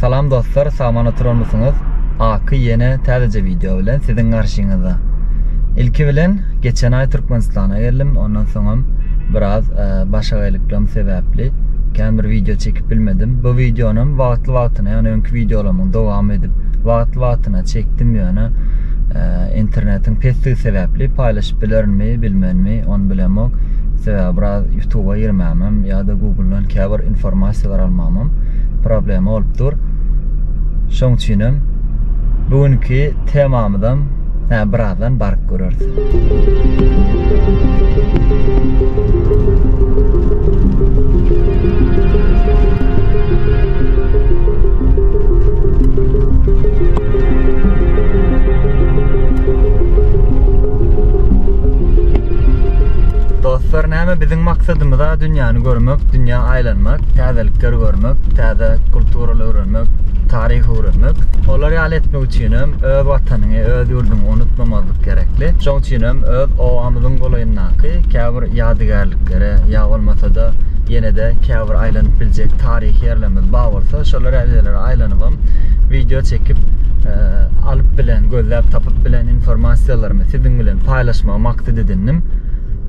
Salam dostlar saman oturanmysyňyz Aky ýene täzeje wideo bilen siziň garşyňyzda Ilki bilen geçen aý Türkmenistana geldim ondan soňam biraz başagaýlyklarym sebäpli kän bir wideo çekip bilmedim bu wideonam wagtly wagtyna ýagny öňki wideolarymyň dowamy edip wagtly wagtyna çekdim ýöne internetiň pesdigi sebäpli paýlaşyp bilerinmi bilmenmi ony bilemok sebäbi biraz ýutuba girmämem ýa-da guguldan käbir informasiýalar almagymam problema bolup dur. Şoň üçin hem bu günki temamyzam hä birazdan baryp göreris. Maksadymyz-a dünýäni görmek, dünýä aýlanmak, täzelikleri görmek, täze kulturalary öwrenmek, taryhy öwrenmek. Olar ýaly etmek üçinem öz Watanyňy, öz ýurduňy unutmamazlyk gerekli. Şoň üçinem öz obamyzyň golaýyndaky käbir ýadygärliklere ýa bolmasa-da ýene-de käbir aýlanyp biljek taryhy ýerlerimiz bar bolsa, şolar ýaly ýerlere aýlanybam wideo çekip, alyp bilen, gözläp tapyp bilen informasiýalarymy siziň bilen paýlaşmagy maksat edindim.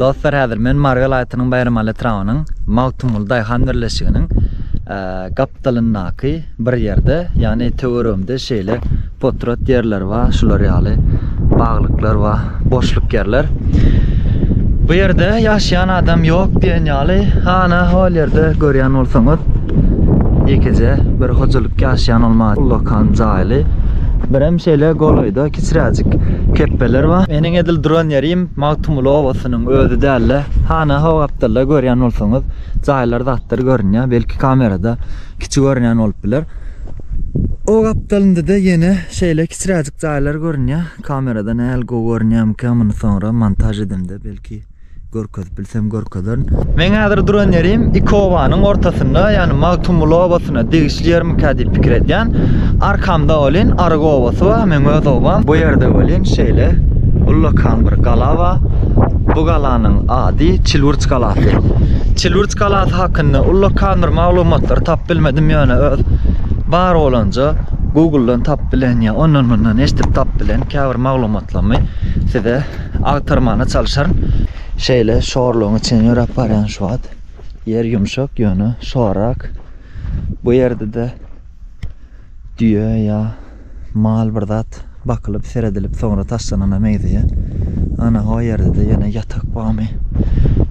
Dostlar häzir men Mary welaýatynyň Baýramaly etrabynyň Magtymguly daýhan birleşiginiň gapdalyndaky bir ýerde, ýagny töweregimde şeýle potrat ýerler bar, şular ýaly baglyklar bar. boşluk ýerler. Bu ýerde ýaşaýan adam ýok diýen ýaly. Ana, hol ýerde görýän bolsaňyz, ýekeje bir hojalyk ýaşaýan bolmaly, ullakan jaýly. Birem şeýle golaýda kiçiräjik kepbeler bar. Meniň edil duran ýerim Magtymguly obasynyň özi dälde. Hana, ho gapdalda görýän bolsaňyz, jaýlar zatlar görünýär. Belki kamerada kiçi görünýän bolup biler. O gapdalynda-da ýene şeýle kiçiräjik jaýlar görünýär. Kamerada näl gowy görünýämikä muny soňra montaž edemde belki görkezip bilsem görkezerin. Men häzir duran ýerim iki obanyň ortasynda ýagny Magtymguly obasyna degişli ýermikä diýip pikir edýän. Arkamda welin Arygy obasy bar meň öz obam. Bu ýerde welin şeýle ullakan bir gala bar. Bu galanyň ady Çilwürç galasy. Çilwürç galasy hakynda ullakan bir maglumatlary tapyp bilmedim ýöne öz bar bolanja Google-dan tap bilen ýa ondan mundan eşdip tap bilen käbir maglumatlarmy size agtarmana çalyşaryn. Şeýle şorlugyň içinden ýöräp barýan şu wagt. Ýer ýumşak ýöne şorrak. Bu ýerde-de düýe ýa mal bir zat Bakylyp seredilip soňra taşlanana meňzeýär. Ana ho ýerdede ýene ýatak barmy?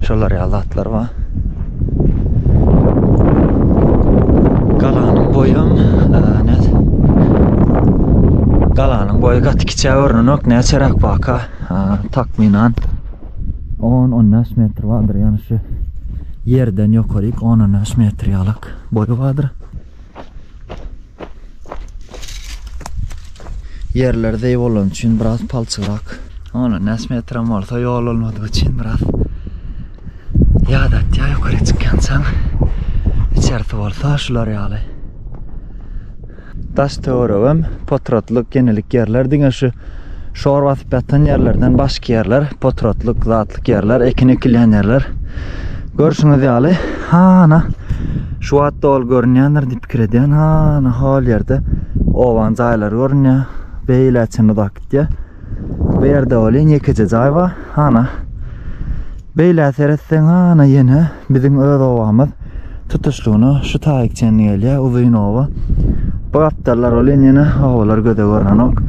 Şolar ýaly zatlar bar. Galanyň boýam näz. Galanyň boýy gaty kiçä görnenok. Näçeräk baka? Takmynan 10-15 metr bardyr. Ýani şu ýerden ýokaryk 10-15 metr ýalyk boýy bardyr. Ýerleri zeý bolany üçin biraz palçygrak. Ony näs metram bolsa ýol bolmadygy üçin biraz ýadatýar ýokary çykýançaň. Içerisi bolsa şular ýaly. Daş töweregem potratlyk, genelik ýerler diňe şu Şor basyp ýatan ýerlerden başky ýerler, potratlyk, zatlyk ýerler, ekin ekilýän ýerler. Görşüňiz ýaly, hana şu wagt dol görünýändir diýip pikir edýän. Hana hol ýerde owan jaýlar görünýär. Beýle çyn uzak gitýär. Bu ýerde welin ýekeje jaý bar. Hana Beýle seretseň, hana ýene Biziň öz obamyz tutuşlygyna şu taýyk çenli gelýär, uzyn oba. Bu gapdallar welin ýene obalar göze görnenok.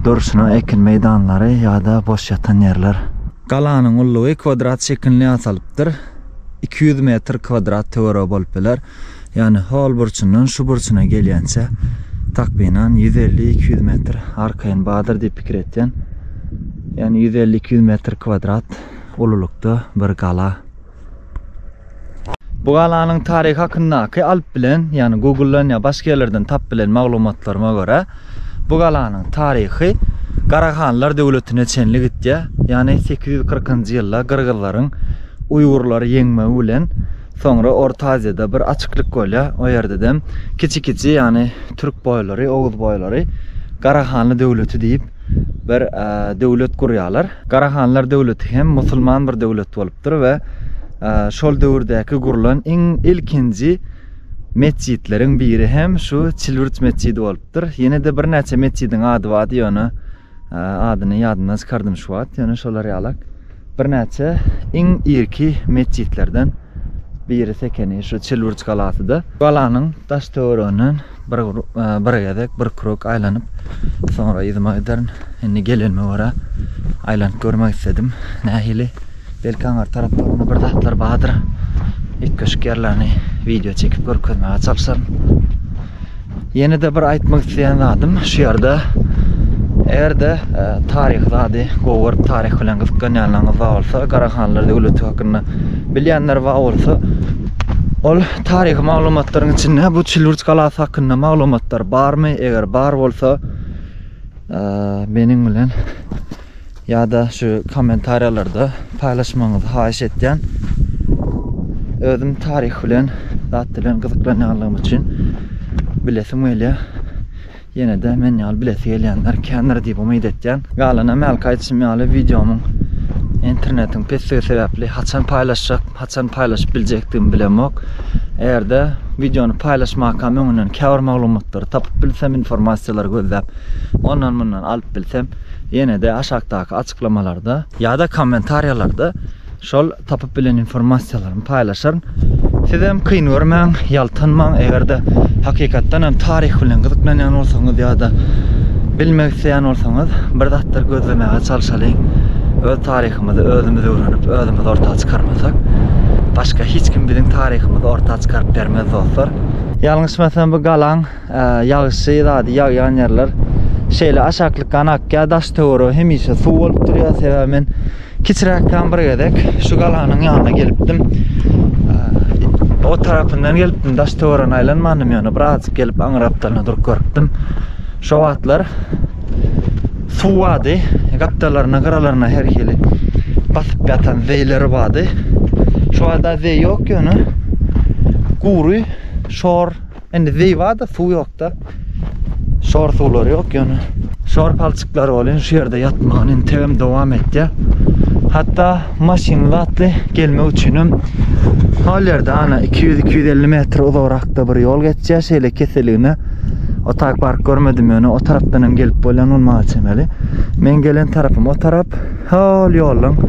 Durşuna ekin meýdanlary ýa-da boş ýatan ýerler. Galanyň ullugy kwadrat şekilini ýasalypdyr. Iki ýüz metr kwadrat töweregi bolup biler. Ýagny hol burçundan şu burçuna gelýänçä takmynan ýüz elli, iki ýüz metr arkaýyn bardyr diýip pikir etýän. Ýagny ýüz elli, iki ýüz metr kwadrat ululykda bir gala. Bu galanyň taryhy hakyndaky alyp bilen, ýagny Google-dan ýa başga ýerlerden tap bilen maglumatlaryma görä, bu galanyň taryhy Garahanlar döwletine çenli gitýär. Ýagny 840-njy ýylda gyrgyzlaryň uýgurlary ýeňmegi bilen soňra Orta Aziýada bir açyklyk bolýar. O ýerde dem kiçi-kiçi, ýagny türk boýlary, oguz boýlary Garahanly döwleti diýip bir döwlet gurýarlar. Garahanlar döwleti hem musulman bir döwlet bolupdyr we şol döwürdäki gurlan iň ilkinji metjitleriň biri hem şu Çilwürt metjidi bolupdyr. Ýene-de birnäçe metjidiň ady bardy, ýöne adyny ýadymdan çykardym şu wagt, ýöne şolar ýalak. Birnäçe iň irki metjitlerden birisi ekeni şu Çilburç galasy-da. Galanyň daş-töwereginden bir bir gezek, bir krok aýlanyp, soňra yzyma giderin. Indi gelenime görä, aýlanyp görmek isledim. Nähili? Belki aňyr taraplarynda bir zatlar bardyr. Üýtgeşik ýerlerini wideo çekip görkezmäge çalyşaryn. Ýene-de bir aýtmak isleýän zadym, şu ýerde eger-de e, taryhy zady gowy görüp taryh bilen gyzyklanýanlaryňyz bar bolsa, Garahanlar döwleti hakynda bilýänler bar bolsa, ol taryhy maglumatlaryň içinde bu Çilburç galasy hakynda maglumatlar barmy? Eger bar bolsa, e, meniň bilen Ýa-da şu kommentariýalarda paýlaşmagyňyzy haýyş etýän. Özüm taryh bilen zat bilen gyzyklanýanlygym üçin bilesim gelýär. Ýene-de men ýaly bilesi gelýänler kändir diýip umyt etýän. Galan hem hälki aýdyşym ýaly wideomyň internetiň pesdigi sebäpli haçan paýlaşjak, haçan paýlaşyp biljekdigimi bilemok. Eger-de wideony paýlaşmakam öňünden käbir maglumatlary tapyp bilsem, informasiýalary gözläp, ondan-mundan alyp bilsem, ýene-de aşakdaky açyklamalarda ýa-da kommentariýalarda şol tapyp bilen informasiýalarymy paýlaşaryn. Sizem kyn görmäň, ýaltanmaň, eger-de hakykatdan hem taryh bilen gyzyklanýan bolsaňyz ýa-da bilmek isleýän bolsaňyz, bir zatlar gözlemäge çalşalyň. Öz taryhymyzy özümiz öwrenip, özümiz orta çykarmasak, başga hiç kim biziň taryhymyzy orta çykaryp bermez dostlar. Ýalňyşmasam bu galaň Ýagyşy zady ýagýan ýerler şeýle aşaklykdan akýar, daş töweregi hemişe suw bolup durýar. Sebäbi men kiçiräkkäm bir gezek şu galanyň ýanyna gelipdim. O tarapyndan gelipdim, daş töweregi aýlanmandym ýöne bir azjyk gelip aňyr gapdalyna durup görüpdim. Şo wagtlar suw bardy, gapdalaryna, gyralaryna her hili basyp ýatan zeýleri bardy. Şu wagtda zeý ýok ýöne gury şor Indi Zivada suw ýokda. Şor suwlary ýok ýöne. Şor palçyklar bolýan şu ýerde ýatmagyny indi tebem dowam etýär. Hatda maşyn zatly gelmek üçin hem hol ýerde ana 200-250 metr uzagrakda bir ýol geçýär şeýle keseligine. O tak park görmedim ýöne o tarapdan hem gelip bolýan bolmaga çemeli. Men gelen tarapym o tarap. Hol ýoluň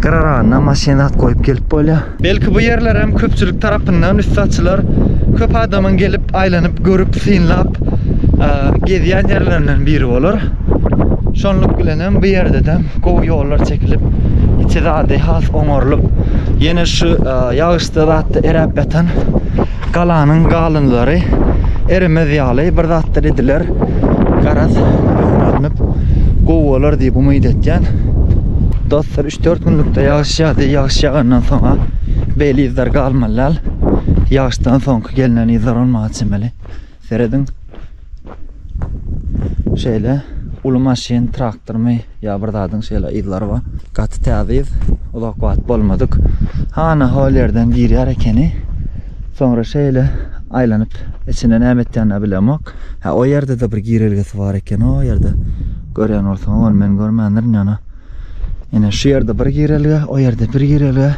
gyraragynda maşyn zat goýup gelip bolýar. Belki bu ýerlerem köpçülik tarapyndan üstaçylar köp adamyň gelip aýlanyp görüp synlap gezýän ýerlerinden biri bolar. Şonluk bilenem bu ýerdedem gowy ýollar çekilip, içi zady has oňarylyp, ýene şu ýagyşda zatda eräp ýatan galanyň galynlary eremez ýaly bir zatlar ediler. Garaz, alnyp gowy bolar diýip umyt etýän. Dostlar Üç-dört günlükde ýagyş ýagdy. Ýagyş ýagandan soň-a beýle yzlar galmaly däl. Ýagyşdan soňky gelnen yzlar bolmaga çemeli. Serediň. Şeýle uly maşyn, traktormy ýa bir zadyň şeýle yzlary bar. Gaty täze yz. Uzak wagt bolmadyk. Hana hol ýerden girýär ekeni. Soňra şeýle aýlanyp içinde näme etýänini-ä bilemok. Hä, o ýerde-de bir girelgesi bar eken o ýerde. Görýän bolsaň, ony men görmändirin ýöne. Ene şu ýerde bir girelge, o ýerde bir girelge.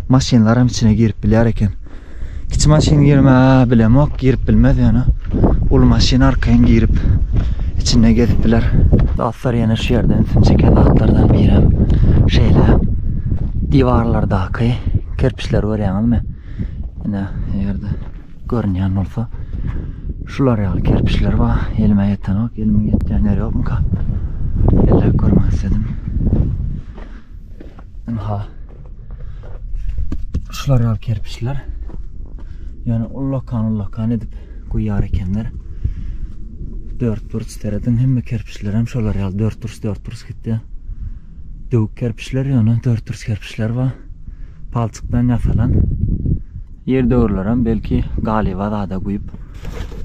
Maşynlar hem içine girip bilýär eken. Kiçi maşyn girme bilemok, girip bilmez ýöne. Uly maşyn arkaýyn girip içinde gezip biler. Dostlar ýene şu ýerde ünsüm çeken zatlardan biri hem şeýle diwarlardaky kerpiçleri görýäňizmi? Ene ýerde Görünýän bolsa şular ýaly kerpiçler bar. Elime ýetenok, elimiň ýetýän ýeri ýokmyka? Elläp görmek isledim. Ynha. Şular ýaly kerpiçler. Yani ullakan ullakan edip guýar ekenler. Dört burç seredin hemme kerpiçler hem şolar ýaly dört burç dört burç gitdi. Döwük kerpiçler ýöne dört burç kerpiçler bar. Palçykdan ýasalan. Ýerdöwürlerem belki galyba zada guýup,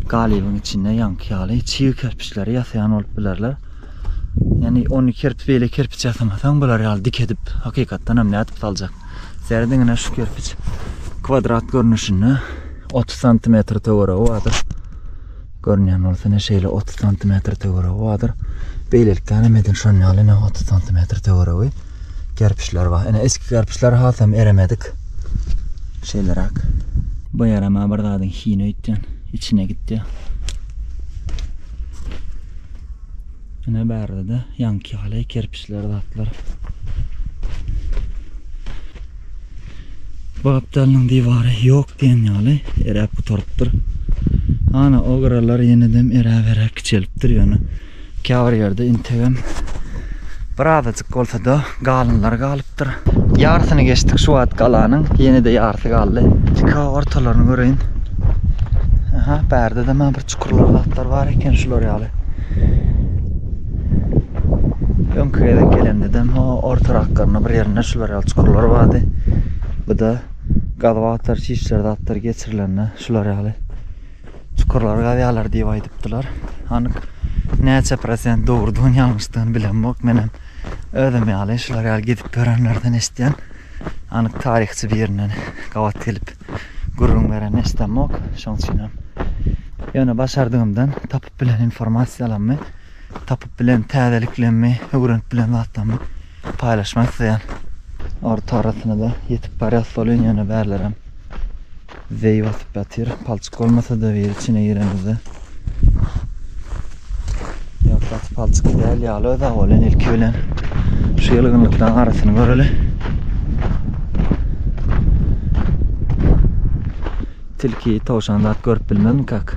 galybyň içinde ýaňky ýaly çig kerpiçleri ýasaýan bolup bilerler. Ýani ony kerip beýle kerpiç ýasamasaň bular ýaly dik edip hakykatdanam nädip saljak. Seri diňine şu kerpiç kwadrat görnüşinde otuz santimetr töweregi bardyr. Görünýän bolsa ine şeýle otuz santimetr töweregi bardyr. Beýlelikdänem medin şon ýaly ine otuz santimetr töweregi kerpiçler bar. Ine eski kerpiçler hasam eremedik. Şeýleräk. Bu ýerem bir zadyň hini öýtýän, içine gitýär. Ine bärde-de ýaňky ýaly kerpiçler zatlar. Bu gapdalynyň diwary ýok diýen ýaly eräp gutarypdyr. Ana o gyralar ýenedem eräberäk kiçelipdir ýöne käbir ýerde integem bir azajyk bolsa-da galynlar galypdyr. Ýarsyny geçdik şu wagt galanyň ýene-de ýarsy galdy. Ýeke ortalaryny göreýin. Aha bärde-de maňa bir Çukurlar zatlar bar eken şular ýaly. Öňki gezek gelemde de o orta raklarynda bir ýerinde şular ýaly çukurlar bardy. Bu da gazwatar şişler zatlar geçirilende şular ýaly çukurlar gazýarlar diýip aýdypdylar. Anyk näçe prosent dogrudygyny ýalňyşdygyny bilemok. Men hem özüm ýaly şular ýaly gidip görenlerden eşitýän. Anyk taryhçy birinden gabat gelip gürrüň beren eşdemok. Şoň üçinem ýöne başardygymdan tapyp bilen informasiýalammy, tapyp bilen täzeliklemmi, öwrenip bilen zatlammy paýlaşmak isleýän. Orta arasyna-da ýetip barýas welin ýöne bärlerem zeý basyp ýatyr. Palçyk bolmasa-da bir içine giremizde Ýaprak palçyk däl ýaly öz awalan ilki bilen şu ýylgynlyklaryň arasyny göreli. Tilki, towşan zat görüp bilmezmi kak?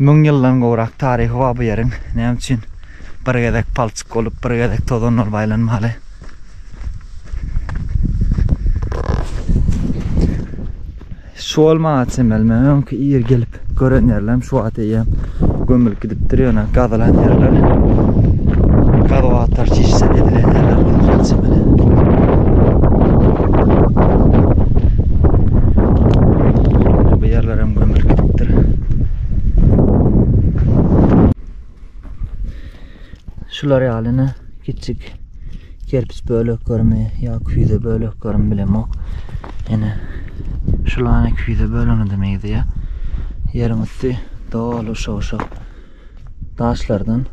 Müň ýyldan gowrak taryhy bar bu ýeriň. Näme üçin bir gezek palçyk bolup, bir gezek tozan bolup aýlanmaly? Şu ol maňa çemeli. Men öňki ir gelip gören ýerlerim şu wagt eýýäm gömülip gidipdir ýöne gazylan ýerler. Gazyp atlar çişse edilen ýerler bolýar çemeli. Ýaşlaram gömülip gidipdir. Şular ýalyny kiçik kerpiç böleklerimi ýa küýze böleklerimi bilemok. Ýene şulany küýze bölüni demeýdi ýa. Ýeriň üsti doly şowşak. Daşlardan.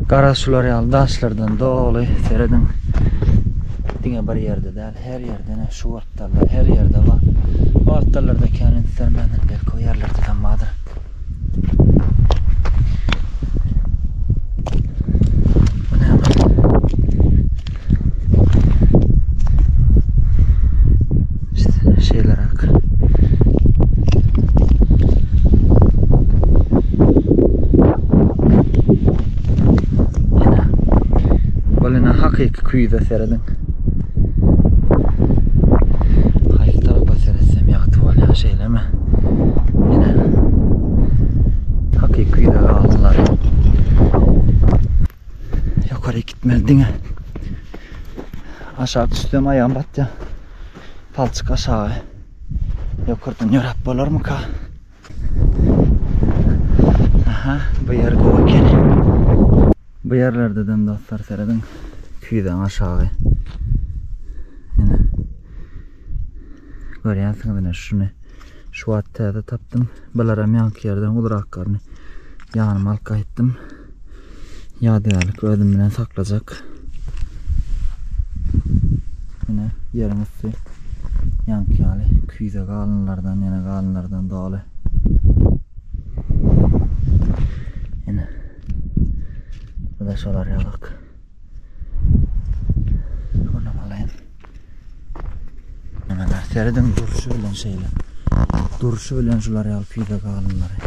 Garaz şular ýaly daşlardan doly serediň. Diňe bir ýerde däl, her ýerde ne şu wagtlarda her ýerde bar. Bu wagtlarda kän insermänden belki o ýerlerde de bardyr. hakyky küýze serediň. Haýyk tarapa seretsem ýagty bolýar, şeýlemi? Ýene hakyky küýze galdylar. Ýokaryk gitmeli diňe. Aşak düşsem aýagym batýa. Palçyk aşaga. Ýokardan ýöräp bolarmyka? Aha, bu ýer gowy ekeni. Bu ýerlerde dem dostlar serediň. Küýzäň aşagy. Görýänsiňiz ine şuny. Şu wagt täze tapdym. Bilerim ýaňky ýerden uzrakgaryny ýanyma alyp gaýtdym. Ýadygärlik özüm bilen saklajak. Ine ýeriň üsti ýaňky ýaly küýze galynlardan, ýene galynlardan doly. Ine. Bu da şolar ýalyk. Şuna galaýyn. Mana serediň durşy bilen şeýle. Durşy bilen şular ýaly küýze galanlary.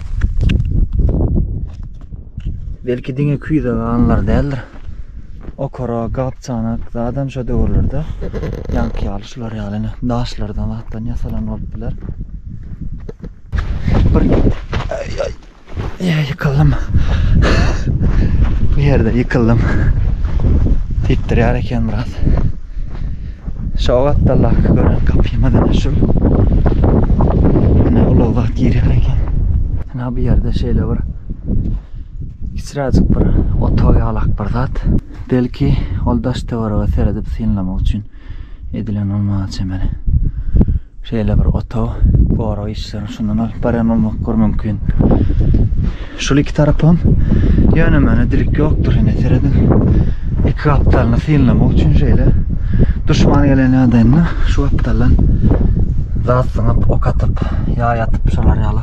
Belki diňe küýze galanlar däldir. Okara, gapçanak, zadan şu döwürlerde ýaňky ýaly şular ýaly daşlardan atdan ýasalan bolup biler. Bir Ýa ýykyldym. Bu ýerde ýykyldym. Titrýär eken biraz. Şu gatdallaky gören gapyma da şu. Ine ulag zat girýär eken. Ina bu ýerde şeýle bir kiçiräjik bir otag ýalak bir zat. Belki ol daş töwerege seredip synlamak üçin edilen bolmaga çemeli. Şeýle bir otag gorag işlerini şundan alyp barýan bolmak gör mümkin. Şul iki tarapam ýöne mana dilik ýokdur ine serediň. Iki gapdalyny synlamak üçin şeýle duşman gelen ýagdaýynda şu gapdaldan zat syňyp, ok atyp, ýaý atyp şolar ýaly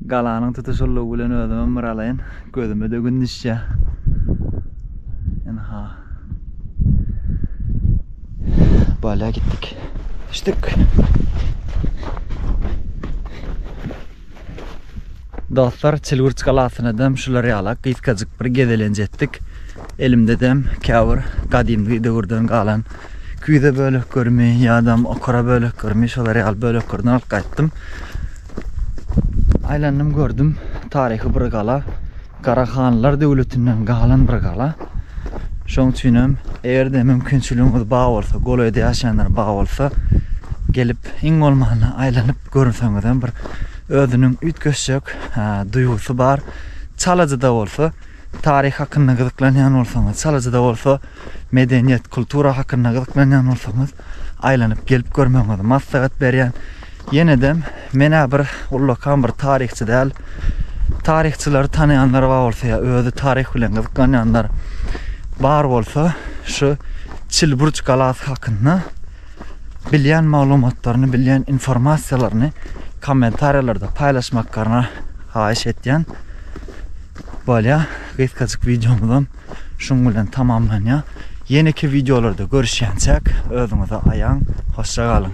Galanyň tutuşyldygy bilen özümem bir alaýyn. Gözüme-de gün düşýär. Ynha. Bala gitdik. Düşdük. Dostlar, Çilgürç galasyna dem şular ýala gysgajyk bir gezelenç etdik. Elimde dem käbir gadymky döwürden galan küýze böleklerimi ýa-da okara böleklerimi şolar ýaly böleklerden alyp gaýtdym. Aýlandym gördüm taryhy bir gala. Garahanlar döwletinden galan bir gala. Şoň üçin hem eger-de mümkinçiligiňiz bar bolsa, golaýda ýaşaýanlar bar bolsa, gelip iň bolmanda aýlanyp görseňiz hem bir özüniň üýtgeşjek duýgusy bar. Çalajyda bolsa, taryh hakynda gyzyklanýan bolsaňyz, Çalajyda bolsa medeniýet, kultura hakynda gyzyklanýan bolsaňyz, aýlanyp gelip görmegiňizi maslahat berýän. Ýenedem, men-ä bir ullakan bir taryhçy däl. Taryhçylary tanaýanlar bar bolsa ýa özi taryh bilen gyzyklanýanlar bar bolsa, şu Çilburç galasy hakynda bilýän maglumatlaryny, bilýän informasiýalaryny kommentariýalarda paýlaşmaklaryny haýyş etýän. Bolýa, gysgajyk wideomyzam şuň bilen tamamlanýa. Ýeneki wideolarda görüşýänçäk, özüňize aýaň, hoşça galyň.